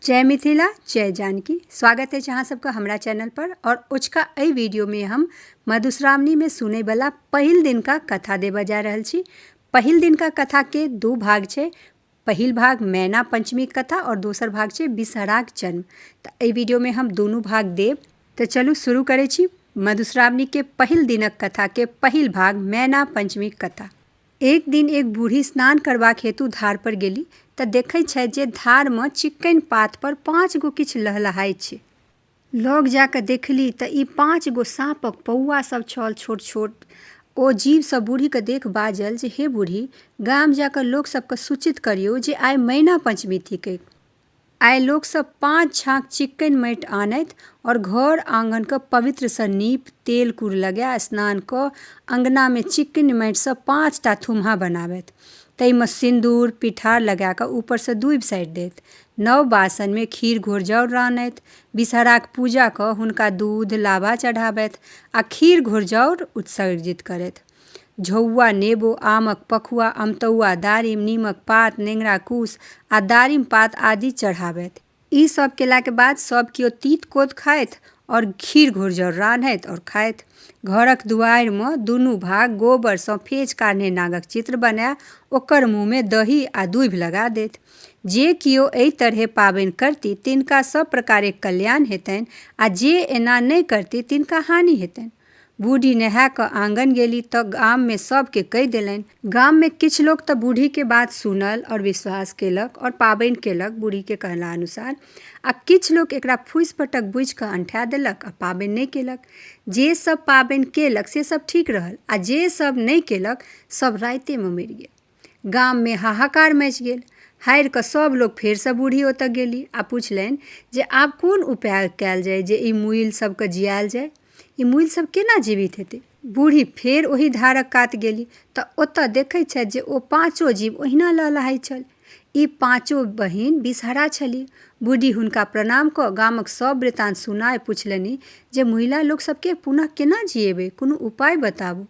जय मिथिला जय जानकी स्वागत अछि अहाँ सबके हमरा चैनल पर आओर अजुका एहि वीडियोमे हम मधुश्रावणीमे सुनैवला पहिल दिनका कथा देबऽ जा रहल छी पहिल दिनका कथाके दू भाग छै पहिल भाग मैना पंचमी कथा आओर दोसर भाग छै बिसहराक जन्म तऽ एहि वीडियोमे हम दुनू भाग देब तऽ चलू शुरू करै छी मधुश्रावणीके पहिल दिनक कथाके पहिल भाग मैना पंचमी कथा एक दिन एक बूढ़ी स्नान करबाक हेतु धार पर गेली तऽ देखै छथि जे धार मे चिक्कनि पात पर पाँच गो किछु लहलहाइ छै लग जा कऽ देखली तऽ ई पाँच गो साँपक पौआ सब छल छोट छोट ओ जीव सब बूढ़ी के देख बाजल जे हे बूढ़ी गाम जा कऽ लोक सबके सूचित करियौ जे आइ मैना पंचमी थिकैक आइ लोकसभ पाँच छाक चिक्कनि माटि आनथि आओर घर आङ्गनके पवित्रसँ नीप तेल कूर लगा स्नान कऽ अङ्गनामे चिक्कनि माटिसँ पाँच टा थुम्हा बनाबथि ताहिमे सिन्दूर पिठार लगाकऽ ऊपरसँ दूबि साटि देथि नव बासनमे खीर घोर जाउर रान्हथि विषहराके पूजा कऽ हुनका दूध लाबा चढ़ाबथि आओर खीर घोर जाउर उत्सर्जित करथि झौआ, नेबो, आमक पखुआ, अमतौआ, दारिम, नीमक पात, नेंगरा कूस आ दारिम पात आदि चढ़ाबथि। ई सभ केलाक बाद सभ कियो तीत-कोत खाथि आओर खीर घोरजाउर रान्हथि आओर खाथि। घरक दुआरिमे दुनू भाग गोबरसँ फेछ काढ़ने नागक चित्र बनाए ओकर मुँहमे दही आ दूभि लगा देथि। जे कियो एहि तरहें पाबनि करती तिनका सभ प्रकारेक कल्याण हेतनि आ जे एना नहि करती तिनका हानि हेतनि। बूढ़ी नहा कऽ आंगन गेली तऽ गाम मे सब के कहि देलनि। गाम मे किछु लोक तऽ बूढ़ी के बात सुनल आओर विश्वास केलक आओर पाबनि केलक बूढ़ी के कहला अनुसार आ किछु लोक एकरा फूसि फटक बूझि कऽ अंठा देलक आ पाबनि नहि केलक। जे सब पाबनि केलक से सब ठीक रहल आ जे सब नहि केलक सब राइते मे मरि गेल। गाममे हाहाकार मचि गेल हारि कऽ सभ लोक फेरसँ बूढ़ी ओतऽ गेली आ पुछलनि जे आब कोन उपाय कयल जाय जे ई मूइल सभके जियायल जाय ई मूइल सभ केना जीवित हेतै बूढ़ी फेर ओहि धारक कात गेली तऽ ओतऽ देखै छथि जे ओ पाँचो जीव ओहिना लहलहाइ छल ई पाँचो बहिन बिसहरा छली बूढ़ी हुनका प्रणाम कऽ गामक सभ वृतान्त सुनाय पुछलनि जे मूइला लोक सभके पुनः केना जियेबै कोनो उपाय बताबू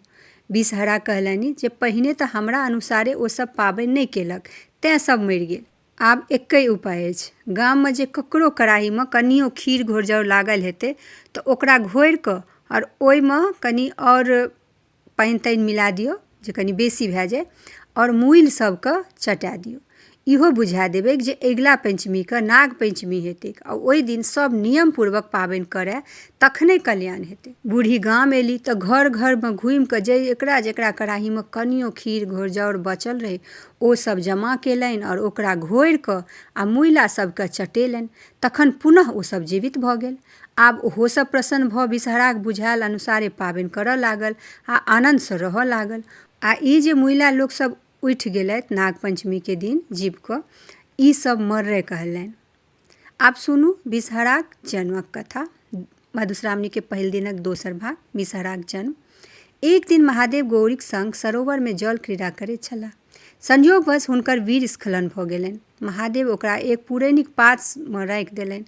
बिषहरा कहलनि जे पहिने तँ हमरा अनुसारे ओ सभ पाबनि नहि केलक, तेँ सभ मरि गेल। आब एक्कहि उपाय अछि। गाममे जे ककरो कड़ाहीमे कनियो खीर घोरजाउर लागल हेतै तँ ओकरा घोरि कऽ आ ओइमे कनि आओर पानि-तानि मिला दियौ जे कनि बेसी भए जाए आ मूइल सभकेँ चटा दियौ। इहो बुझा देबै जे अगिला पञ्चमीके नाग पञ्चमी हेतै आ ओहि दिन सभ नियम पूर्वक पाबनि करै तखने कल्याण हेतै बुढ़ि गाम एली तऽ घर घरमे घुमि कऽ जेकरा जेकरा कड़ाहीमे कनियो खीर घोर जाउर बचल रहै ओ सभ जमा केलनि आओर ओकरा घोरि कऽ आ मुइला सभके चटेलनि तखन पुनः ओ सभ जीवित भऽ गेल आब ओहो सभ प्रसन्न भऽ विषहराक बुझायल अनुसारे पाबनि करऽ लागल आ आनन्दसँ रहऽ लागल आ ई जे मुइला लोक सभ उठि गेलथि नागपञ्चमीके दिन जीविकऽ ई सब मर्रे कहलनि आब सुनू विषहराक जन्मक कथा मधुश्रावणीके पहिल दिनक दोसर भाग विषहराक जन्म एक दिन महादेव गौरीक संग सरोवरमे जल क्रीड़ा करैत छलाह संयोगवश हुनकर वीर स्खलन भऽ गेलनि महादेव ओकरा एक पुरैनिक पातमे राखि देलनि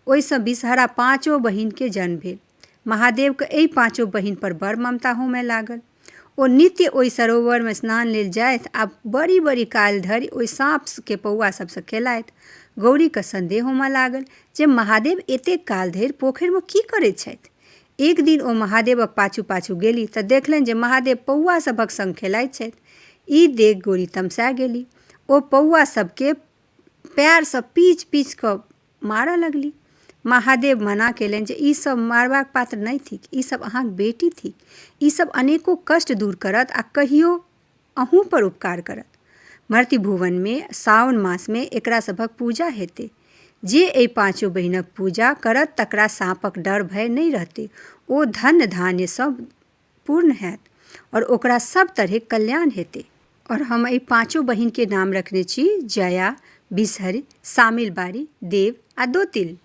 ओहिसँ विषहरा पाँचो बहिनके जन्म भेल महादेवके एहि पाँचो बहिनपर बड़ ममता होमय लागल ओ नित्य ओहि सरोवरमे स्नान लेल जाथि आ बड़ी बड़ी काल धरि ओहि साँपके पौआ सभसँ खेलाइत गौरीके सन्देह होमय लागल जे महादेव एतेक काल धरि पोखरिमे की करैत छथि एक दिन ओ महादेवक पाछू पाछू गेली तऽ देखलनि जे महादेव पौआ सभक संग खेलाइत छथि ई देख गौरी तमसा गेली ओ पौआ सभके पएरसँ पीच पीच कऽ मारऽ लगली महादेव मना केलनि जे ई सब मारबाक पात्र नहि थिक ई सब अहाँक बेटी थिक ई सब अनेको कष्ट दूर करत आ कहियो अहूँ पर उपकार करत मर्ति भुवनमे सावन मासमे एकरा सभक पूजा हेतै जे एहि पाँचो बहिनक पूजा करत तकरा साँपक डर भय नहि रहतै ओ धन धान्यसँ पूर्ण हैत आओर ओकरा सब तरहे कल्याण हेतै आओर हम एहि पाँचो बहिनके नाम रखने छी जया बिसहरि शामिल बारी देव आ दोतिल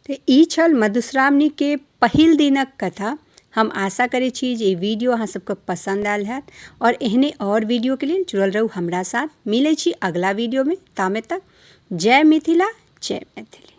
तऽ ई छल मधुश्रावणीके पहिल दिनक कथा हम आशा करै छी जे ई वीडियो अहाँ सबके पसन्द आयल हैत आओर एहने आओर वीडियोके लेल जुड़ल रहू हमरा साथ मिलै छी अगिला वीडियोमे तामे तक जय मिथिला जय मैथिली